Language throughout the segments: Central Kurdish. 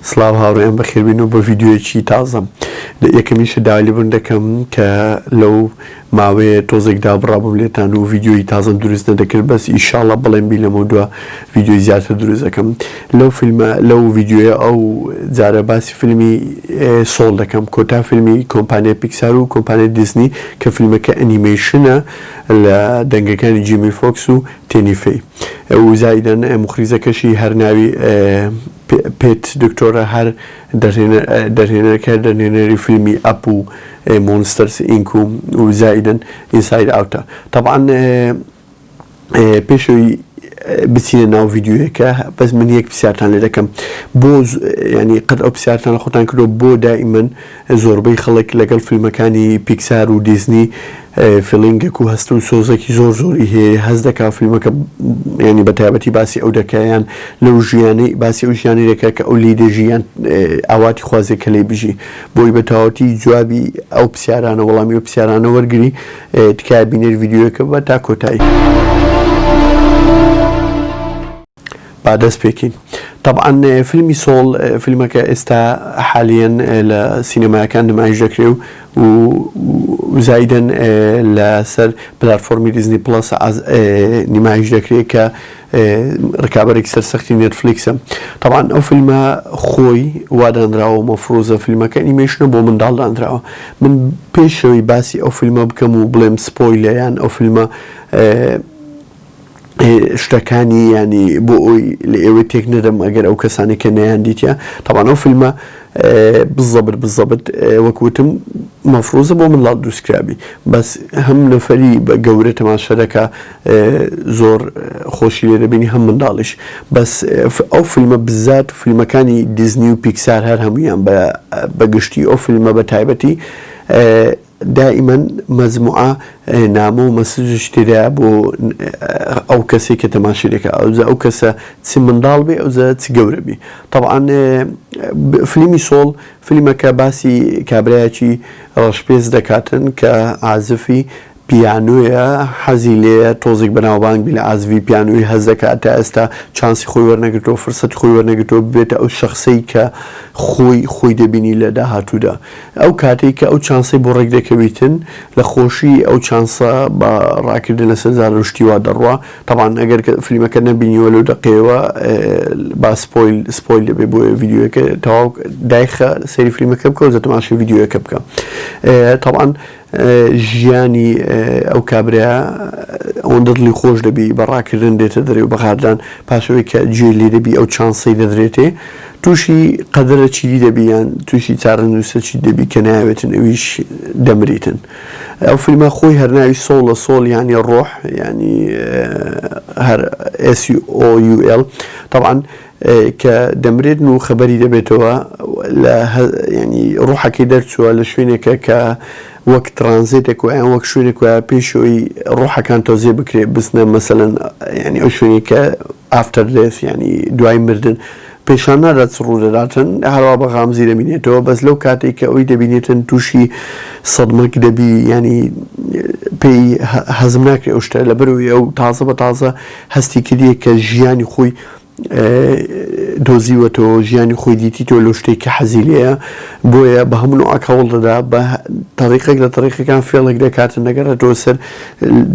سڵاو هاوڕێیان بەخێربێنەوە بۆ ڤیدیۆیەکی تازەم لە یەکەمی شە داوا لێبوون دەکەم کە لەو ماوەیە تۆزێک دابڕابم لێتان و ڤیددیۆی تازم دروست نەدەکرد بەس ئیشاڵە بڵێن بی لەمە دووە ڤیددیۆی زیاتر دروست دەکەم لەو فیلمە لەو ڤیددیۆیە ئەو جارە باسی فیلمی سۆڵ دەکەم کۆتا فیلمی کۆمپانیای پیکسار و کۆمپانیای دیزنی کە فیلمەکە ئەنیمەیشنە لە دەنگەکانی جیمی فۆکس و تێنیفی و زایدن مخریزەکەشی هەرناوی پیت دکتۆرە هەر دەرهێنەرکە دەرهێنەری فیلمی ئەپ و مۆنستەرس ئینک و زایدن ئینساید ئاوتە تەبعەن پێش ئەوی بچینە ناو ڤیددیوەکە بەس من یەک پرسیارتان لێ دەکەم بۆ ینی قەت ئەو پرسیارتان لە خۆتان کردو بۆ دائیمەن زۆربەی خەڵک لەگەڵ فیلمەکانی پیکسار و دیزنی فیڵینگێک و هەست و سۆزێکی زۆر زۆری هەیە هەست دەکا فیلمەکە یانی بە تایبەتی باسی ئەو دەکا یان لەو ژیانەی باسی ئەو ژیانی دەکا کە ئەو لێی دەژی یان ئاواتی خوازێ کە لێی بژی بۆی بە تەواوەتی جوابی ئەو پسیارانە وەڵامی ئەو پسیارانە وەرگری تکایە بینەر ڤیدیۆیەکە بە تا کۆتایی. با دەست پێکەین. تەبعەن فیلمی سۆڵ فیلمەکە ئێستا حالیەن لە سینەمایەکان نمایش دەکرێ و زایدەن لە سەر پلارفۆرمی دیزنی پڵەس نمایش دەکرێت کە ڕکابەرێک سەرسەختی نێتفلیکسە تەوان ئەو فیلمە خۆی وادانراوە مەفرۆزە فیلمەکە نیمەشنە بۆ منداڵ دانراوە من پێشەوەی باسی ئەو فیلمە بکەم و بڵێم سپۆی لەیان ئەو فیلمە شتەکانی یانی بۆ ئەوی لە ئێوەی تێک نەدەم ئەگەر ئەو کەسانی کە نەیان دیتە تاوان ئەو فیلمە بزەبر بزەبت وەکوتم مەفروزە بۆ من لاڵ دووسکرابی بەس هەم نەفەری بە گەورە تەماشەرەکە زۆر خۆشی لێ دەبینی هەم منداڵیش بەس ئەو فیلمە بزات فیلمەکانی دیزنی و پیکسار هەر هەمویان بە بەگشتی ئەو فیلمە بە تایبەتی دائیمەن مەجموعە نامە و مەسج و شتی دەیا بۆ ئەو کەسەی کە تەماشەی دەکا ئەوجا ئەو کەسە چ منداڵ بێ ئەوجا چ گەورە بی تەبعەن فلیمی سۆڵ فلیمەکە باسی کابرایەکی ڕەشپێست دەکاتن کە عازفی پیانۆیە حەزی لێیە تۆزیک بەناوبانگ بی لە عازفی پیانۆی هەست دەکا تا ئێستا چانسی خۆی وەرنەگرتوە فرسەتی خۆی وەرنەگرتوە ببێتە ئەو شەخسەی کە خۆی خۆی دەبینی لە داهاتوودا. ئەو کاتەی کە ئەو چانسەی بۆ ڕێک دەکەویتن لە خۆشیی ئەو چانسە بە ڕاکردن لەسەر زارەر و شتی وا دەڕوا، تەبعەن ئەگەر کە فلیمەکە نەبینیوە لەو دەقەیەوە با سپۆیل سپۆیل دەبێ بۆ ڤیدیۆیەکە تەواو دایخە سەیری فلیمەکە بکە و زە تەماشای ڤیدیۆیەکە بکە تەبعەن ژیانی ئەو کابرایە ئەوەندە دڵی خۆش دەبی بە ڕاکردن دێتە دەرێ و بە غارلان پاسەوەی کە جوێی لێ دەبی ئەو چانسەی دەدرێتێ تووشی قەدرە چیدی دەبی یان تووشی چارە نووسە چی دەبی کە ناوێتن ئەویش دەمریتن ئەو فیلمە خۆی هەرناوی سۆڵە سۆڵ یانی ڕۆح ینی هەر ئسی ئۆUL تاوان کە دەمرێت و خەبەری دەبێتەوە لە یانی ڕوحەکەی دەرچووە لە شوێنێکە کە وەک ترانزێتێک ویان وەک شوێنێک وە پێشەوەی ڕوحەکان تۆزێ بکرێت بستنە مەسەەن ینی ئەو شوێنی کە ئافتەر دێس ینی دوای مردن پێشان نادات سڕوو دەداتن هەروە بە غامزی دەبینێتەوە بەس لەو کاتێک کە ئەوی دەبینێتن تووشی سەدمەک دەبی ینی پێی هەزم ناکرێ ئەو شتە لە بەرەوەی ئەو تازە بە تازە هەستی کردیە کە ژیانی خۆی دۆزیوەتەوە ژیانی خۆی دیتیتەوە لەو شتەی کە حەزی لێیە بۆیە بە هەموو نوعەک هەوڵ دەدا بە تەریقێک لە تەریقەکان فێڵێک دەکاتن دەگەڕێتەوە سەر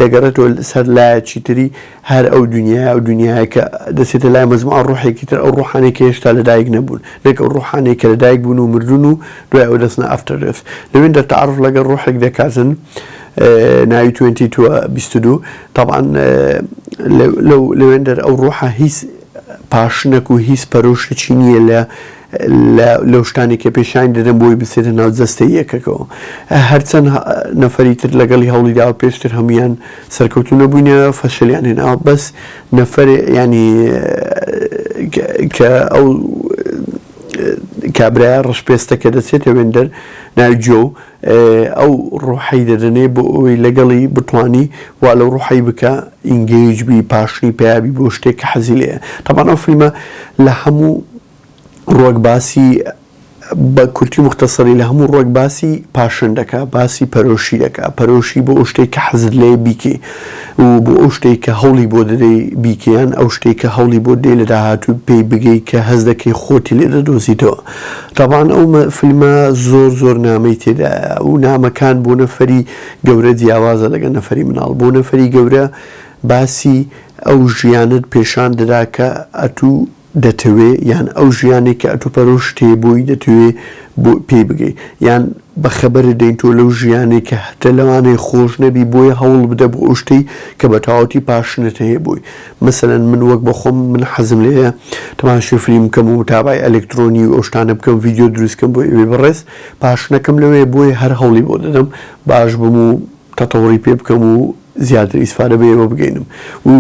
دەگەڕێتەوە سەر لایەکی تری هەر ئەو دنیای ئەو دنیای کە دەچێتە لای مەزموعە ڕوحێکی تر ئەو ڕوحانێک کە هێشتا لەدایک نەبوون نەک ئەو ڕوحانێک کە لەدایک بوون و مردون و دوای ئەو دەستنە ئەفتەرێس لەوێن دەتەعرف لەگەڵ ڕوحێک دەکاتن ناوی 22 22 تەبعەن لەو لەوێندەر ئەو ڕوحە هیچ پاشنەک و هیچ پەرۆشتکی نییە لە لەو شتانی کە پێشانی دەدەم بۆی بچێتە ناو جەستەی یەکەکەوە هەرچەند نەفەری تر لەگەڵی هەوڵی داوە پێشتر هەمویان سەرکەوتو نەبووینە فەشلیان هێناوە بەس نەفەر ینی کە ئەو کابراە ڕشپێستە کە دەچێتە وێندەر ناوی جۆ ئەو ڕۆحەی دەدەنێ بۆ ئەوەی لەگەڵی بتوانی وا لەو ڕۆحەی بکە ئینگەیج بی پاشنی پیا بی بۆ شتێک کە حەزی لێیە تەبان ئەو فیلمە لە هەموو ڕوەک باسی بە کورتی موختەسەری لە هەموو ڕوەک باسی پاشن دەکا باسی پەرۆشی دەکا پەرۆشی بۆ ئەو شتێک کە حەزت لێ بیکەی و بۆ ئەو شتێک کە هەوڵی بۆ دەدەی بیکەیان ئەو شتێک کە هەوڵی بۆ دەی لە داهاتوو پێی بگەی کە هەست دەکەی خۆتی لێ دەدۆزیتەوە. تەبعەن ئەو فیلمە زۆر زۆر نامەی تێدایە و نامەکان بۆ نەفەری گەورە جیاوازە لەگەڵ نەفەری مناڵ بۆ نەفەری گەورە باسی ئەو ژیانەت پێشان دەدا کە ئەتو دەتەوێ یان ئەو ژیانەی کە ئەتو پەرۆشت هەیە بۆی دەتەوێ پێی بگەی یان بە خەبەرت دەین تۆ لەو ژیانەی کە هەتە لەوانەیە خۆش نەبی بۆیە هەوڵ بدە بۆ ئەو شتەی کە بە تەواوەتی پاشنت هەیە بۆی مەسەلەن من وەک بۆ خۆم من حەزم لێیە تەماشای فلیم بکەم و متابەعەی ئەلکترۆنی و ئەو شتانە بکەم و ڤیدیۆ دروست کەم بۆ ئێوەی بەڕێز، پاشنەکەم لەوێ بۆیە هەر هەوڵی بۆ دەدەم باش بم و تەتەوڕی پێ بکەم و زیاتر ئیسفادە بە ئێوە بگەینم و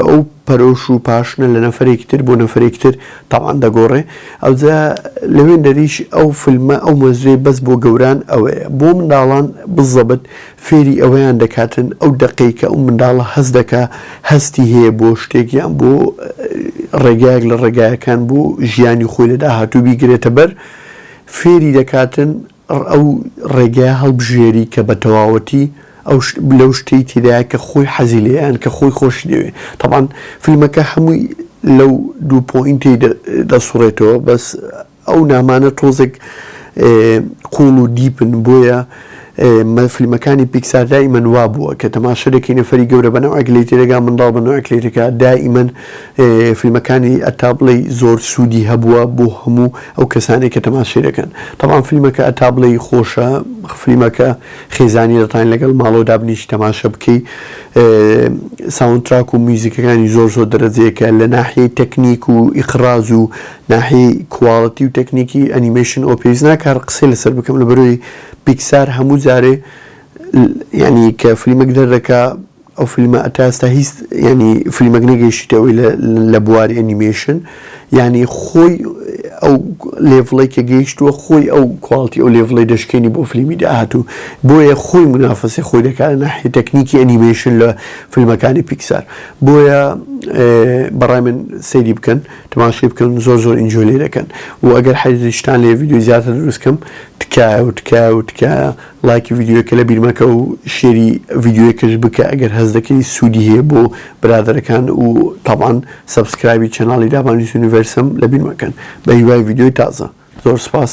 ئەو پەرۆش و پاشنە لە نەفەرێکی تر بۆ نەفەرێکی تر تەبعەن دەگۆڕێ ئەوجا لەوێندەریش ئەو فلمە ئەو مەزوێ بەس بۆ گەوران ئەوەیە بۆ منداڵان بزەبت فێری ئەوەیان دەکاتن ئەو دەقەی کە ئەو منداڵە هەست دەکا هەستی هەیە بۆ شتێک یان بۆ ڕێگایەک لە ڕێگایەکان بۆ ژیانی خۆی لە داهاتوو بیگرێتە بەر فێری دەکاتن ئەو ڕێگایە هەڵبژێری کە بە تەواوەتی ئەو لەو شتەی تێدایە کە خۆی حەزی لێیە یان کە خۆی خۆشی دەوێ تەبان فیلمەکە هەمووی لەو دوو پۆینتەی دەسوڕێتەوە بەس ئەو نامانە تۆزێک قوڵ و دیپن بۆیە فلیمەکانی پیکسار دائیمەن وابووە کە تەماشە دەکەی نەفەری گەورە بە نەوعێک لێی تێدەگا منداڵ بە نەوعێک لێی دەکا دائیمەن فلیمەکانی ئەتا بڵێی زۆر سوودی هەبووە بۆ هەموو ئەو کەسانەی کە تەماشەی دەکەن تەبان فلیمەکە ئەتا بڵێی خۆشە فلیمەکە خێزانی دەتوانین لەگەڵ ماڵەوە دابنیشی تەماشە بکەی ساوندتراک و میوزیکەکانی زۆر زۆر دەرەجەیەکە لە ناحیەی تەکنیک و ئیقراز و ناحیەی کواڵتی و تەکنیکی ئەنیمەیشن ئەوە پێویست ناکە هەر قسەی لەسەر بکەم لەبەرئەوەی پیکسار هەموو جارێ یانی کە فلیمەک دەردەکا ئەو فلیمە تا ئێستا هیچ یانی فلیمەک نەگەیشتە ئەوی لە بواری ئەنیمەیشن یانی خۆی ئەو لێڤڵەی کە گەیشتووە خۆی ئەو کواڵتی ئەو لێڤڵەی دەشکێنی بۆ فلیمی داهاتوو بۆیە خۆی منافەسەی خۆی دەکات لە ناحیەی تەکنیکی ئەنیمەیشن لە فلیمەکانی پیکسار بۆیە بەڕای من سەیری بکەن. تماشای بکەن زۆر زۆر ئینجۆی لێ دەکەن و ئەگەر حەیزشتان لێ ڤیدیۆی زیاتر دروست کەم تکایە و تکایە و تکایە ڵایکی ڤیدیۆکە لە بیرمەکە و شێری ڤیدیۆکەش بکە ئەگەر هەز دەکەی سوودی هەیە بۆ برادەرەکان و تاوان سەبسکرایبی چەناڵی دابانی یونیڤرسم لە بیرمەکەن بە هیوای ڤیدیۆی تازە زۆر سپاس.